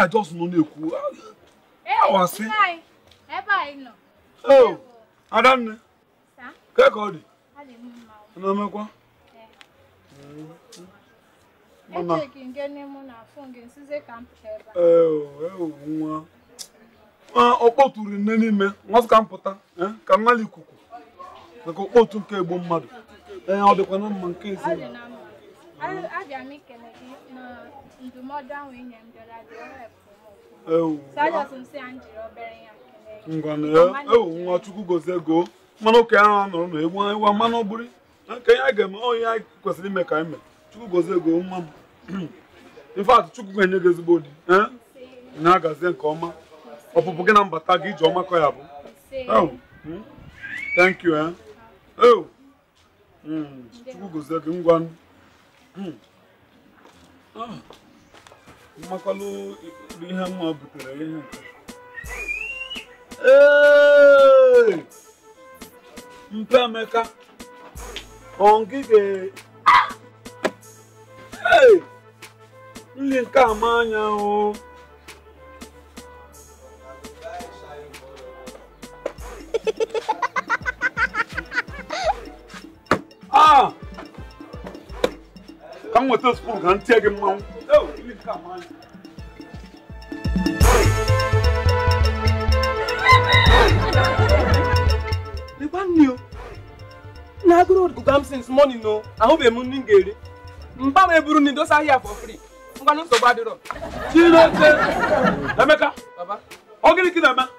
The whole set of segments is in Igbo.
I just nọ na-ekwu awasị oh, adanne kee ka ọ dị a na-emekwa nwa okpotu ri nne n'ime m wee sị ka m pụta eh, ka m nwale ikuku maka okpotu nke egbu mmadụ ee eh, ọ dịkwanụ mma nke ezinụlọ nwa chukwu gozie gị o mmanụ ụka ya ahụ nọrọ na egwu ịwa mmanụ bụrụ nke ya ga-eme onye ya kwesịrị ime ka ime chukwu gozie gị o nwa m in fact chukwu ga-enye gị ezigbo di eh? na-agazie nke ọma ọpụpụ gị na mbata gị ije ọma ka ọ ya-abụ hmm? thank you eh? Hmm, Chukwu gozie gị ngwa hmm. ah, mmakwalụ ihe mma butere ihe nke mpa emeka ọ ngị ga nri nke a ma anya o ka m nweta spoon ka m tie gị mmanwụ lekwa nne o na agụrụ agụga m since morning o ahụbeghị m nri m ga-eri mba m eburu nri dosa ahịa for free ngwanụ nsogbu adịrọ Chineke Emeka baba ọ gịnị ka ị na-eme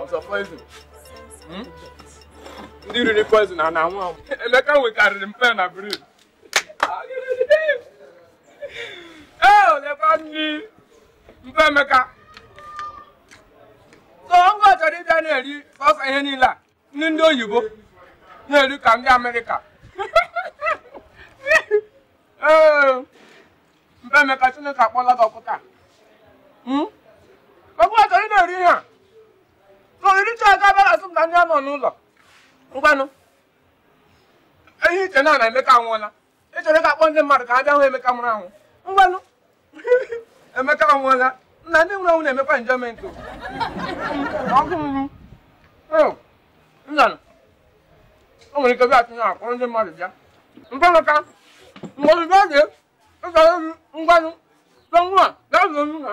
ọzọ poison hmm? ndị riri poison a na-anwụ anwụ emeka nwekarịrị mpe na brain ee olekwa ndị mpa emeka so ngwa chọrọ ịbịa na-eri ọsọ ihe niile a nri ndị oyibo na-eri ka ndị amerịka ee mpa emeka chineke akpọla gị ọkụ taa ọgụ achọrọ ị na-eri ihe a na oricha a ga-abịa asụ m na ndị a nọ n'ụlọ ngwanụ eh i che na nna emeka anwụọla ị chọrọ ịga akpọ ndị mmadụ ka ha bịa hụ Emeka nwụrụ anwụ ngwanụ Emeka anwụọla nna ndị nwụrụ anwụ na-emekwa enjoyment o. Ọkụ m. Ee, nna nụ. o nwere ike bịa tinye akpọrọ ndị mmadụ bịa ngwanụ ka mgbe ozugbo ọ dị ịzọrọ ngwanụ tọ nwa gaa zụrụ nna